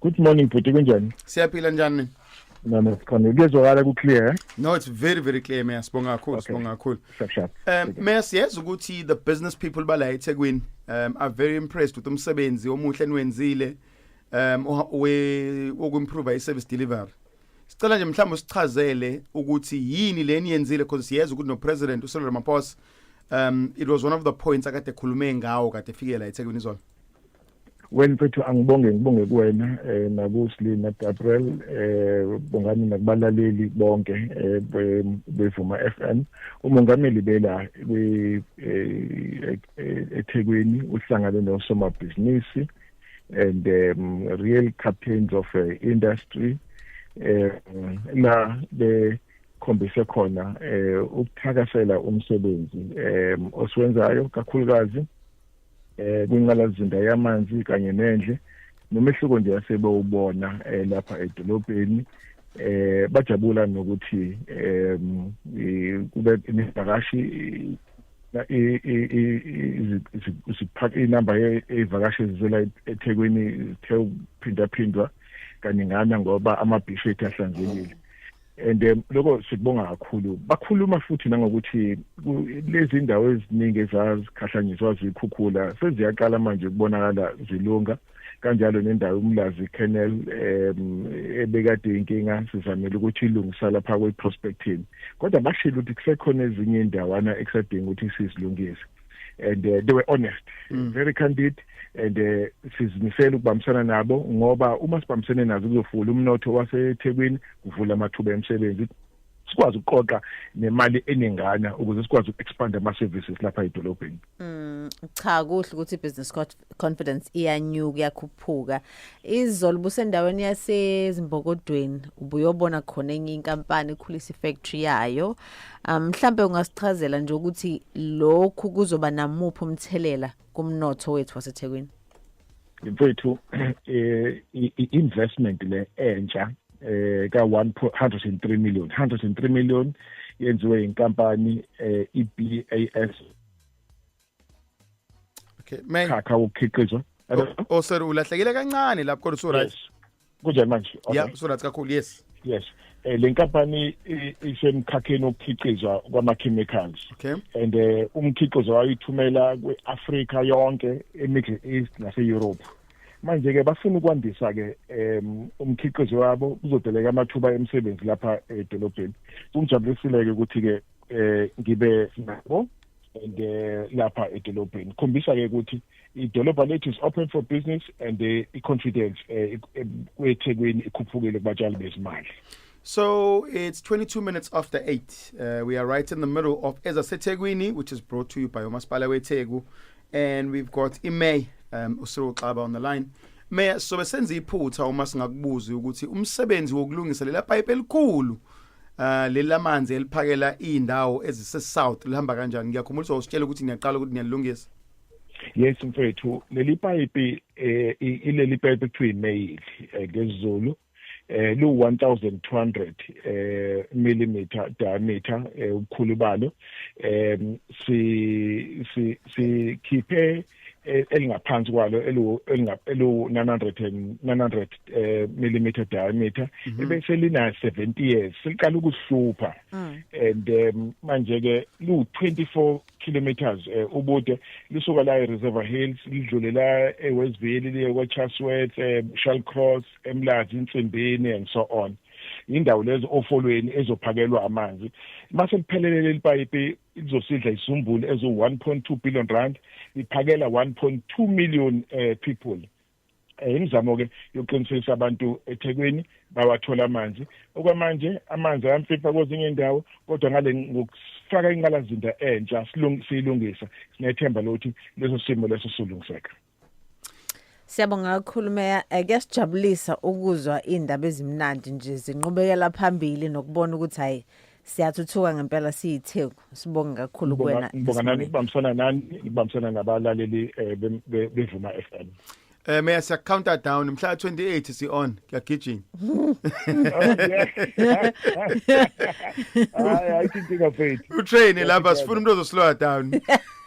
Good morning bhuti kunjani? Siyaphila njani? Nami sikhona. Kuyezwakala ku clear. Eh? No it's very very clear Mayor. Sibonga kakhulu, okay. sibonga kakhulu. Sharp sharp. Um Mayor siyazi ukuthi the business people bala eThekwini um are very impressed with umsebenzi omuhle niwenzile um we wokuimprove i service delivery. Sicela nje mhlawumbe usichazele ukuthi yini leni yenzile because siyazi ukuthi no president uSolomon Ramaphosa um it was one of the points akade khulume ngawo kade fikela eThekwini izolo. Wena mfethu angibonge ngibonge kuwena eh nakusli na Gabriel eh bongani nakubalaleli bonke eh bevuma FM umongameli bela kwi eh, eh, eThekwini uhlangane nosomabhizinisi and um, real captains of uh, industry eh la be khombise khona eh ukuthakasela umsebenzi eh osiwenzayo kakhulukazi eh kwinqalazinda yamanzi kanye nendle nomehluko nje asebewubona eh, lapha edolobheni eh bajabula nokuthi em kube imivakashi isiphaka inamba yevakashi ezizela eThekwini ithe ukuphindaphindwa kaningana ngoba amabhishi ethu ahlanzekile and um, lokho sikubonga kakhulu bakhuluma futhi nangokuthi lezi ndawo eziningi ezazikhahlanyiswa zikhukhula seziyaqala manje ukubonakala zilunga kanjalo nendawo umlazi canal um ebekade inkinga sizamele ukuthi ilungisa lapha kwe-prospecting kodwa bashilo ukuthi kusekhona ezinye indawana ekusadinga ukuthi sizilungise and uh, they were honest mm. very candid and uh, sizimisela ukubambisana nabo ngoba uma sibambisene nazo kuzofula umnotho waseThekwini kuvula amathuba emsebenzi sikwazi ukuqoqa nemali eningana ukuze sikwazi uku-expanda ama-services lapha edolobheni mm, cha kuhle ukuthi i-business code confidence iyanyuka iyakhuphuka izolo busendaweni yasezimbokodweni ubuyobona khona enye inkampani ikhulisa ifactory yayo um, mhlambe ungasichazela nje ukuthi lokhu kuzoba namuphi umthelela kumnotho wethu waseThekwini mfethu eh investment le entsha eh ka 103 million 103 million yenziwe inkampani eh iBAS okay may khakha ukukhiqizwa oh sorry ulahlekile kancane lapho kodwa so right kunjani manje okay yeah so right kakhulu yes yes eh lenkampani isemkhakheni okukhiqizwa kwama chemicals okay and eh, umkhiqizo wayo ithumela kweAfrica yonke eMiddle East nase Europe manje ke bafuna ukwandisa ke um umkhiqizo wabo kuzodeleka amathuba emisebenzi lapha edolobheni kungijabulisile ke ukuthi ke eh ngibe nabo and uh, lapha edolobheni khombisa ke ukuthi idolobha lethu is open for business and uh, i-confidence uh, kwethekwini ikhuphukile kubatshali bezimali So it's 22 minutes after 8. Uh, we are right in the middle of Eza Seteguini, which is brought to you by Omas Palawetegu. And we've got Imay um, Usuru Klaba on the line. Mayor, so besenza iphutha uma singakubuza ukuthi umsebenzi wokulungisa lela pipe elikhulu Uh, leli lamanzi eliphakela iy'ndawo ezise-south lihamba kanjani ngiyakhumbulisa usitshela ukuthi niyaqala ukuthi niyalilungisa yes mfethu leli payipi eh ileli payipi kuthiwa imeyili eh, ngesiZulu eh lu 1200 eh millimeter diameter eh, ubukhulu balo em si si sikhiphe e, elingaphansi kwalo eliwu-900 eh, millimeter diameter mhm. ebese lina-70 years seliqala ukuhlupha mm. and um, manje-ke liwu-24 kilometers eh, ubude lisuka la e-reserver hills lidlule la ewestville liye kwechasworth um eh, shall cross emlazi insimbini and so on indawo lezo ofolweni ezophakelwa amanzi mase liphelelele lipayipi izosidla isumbulu ezo 1.2 billion rand iphakela 1.2 million eh, people eh, imizamo ke yokuqinisekisa abantu eThekwini bawathola amanzi okwamanje amanzi ayamfifa kwezinye indawo kodwa ngale ngokufaka inqalazinda entsha silungisa sinethemba lokuthi leso simo leso silungiseka Siyabonga kakhulu meya eh, kuyasijabulisa ukuzwa indaba ezimnandi nje zinqubekela phambili nokubona ukuthi hayi siyathuthuka ngempela siyitheku sibonge kakhulu kuwena ngibonga nani ngibambisana nani ngibambisana nabalaleli eh, bevuma FM Eh meya siya counter down mhla 28 si on kuyagijima. Hayi ayithinti kaFaith. U train lapha sifuna umuntu ozoslowa down.